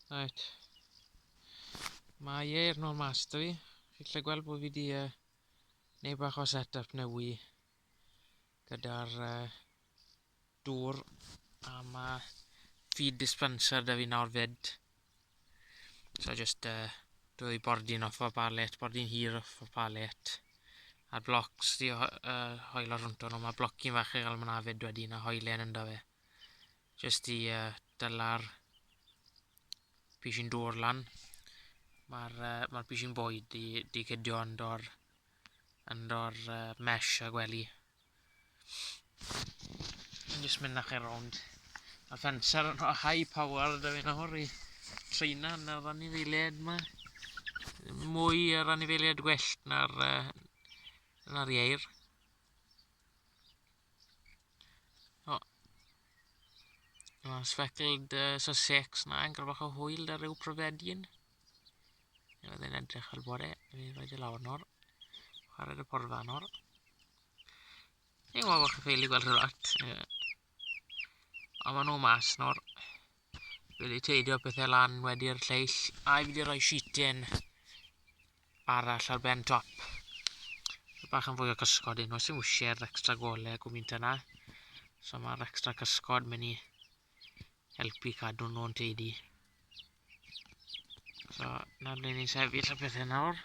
Right. Mae e i'r nôl mas da fi. Chi'n lle gweld bod fi wedi uh, neu bach o set-up newy gyda'r uh, dŵr a mae feed dispenser da fi nawr fyd. So just uh, dwy bordyn off o'r palet, bordyn hir off o'r palet. A'r blocs di uh, hoel ar hwnt o'n nhw, mae blocyn fach i gael yma fyd wedyn a hoelen ynddo fe. Jyst i uh, dyla'r pishin dŵr lan. Mae'r uh, ma pishin boi di, di cydio yn dor, yn dor uh, mesh a gwely. Jyst mynd â chi rownd. Mae fencer yn high power da fi nawr i treina yn yr anifeiliaid yma. Mwy yr anifeiliaid gwellt na'r, uh, na'r ieir. O. Mae'n sfecled uh, so sex na, yn gyrfach o hwyl da rhyw pryfedyn. Neu oedd e'n edrych fel bod e, fi roi di lawr nawr. Chwarae dy porfa nawr. Ni'n gwybod bod chi'n ffeili gweld rhywbeth. Ond maen nhw mas nawr. Fi wedi teidio pethau lan wedi'r lleill a fi wedi rhoi sheeting arall ar ben top. So bach yn fwy o cysgod un nhw, sy'n wisie'r extra gole gwmynt yna. So mae'r extra cysgod mynd i helpu cadw nhw'n teidi. So na ble ni'n sefyll y pethau nawr.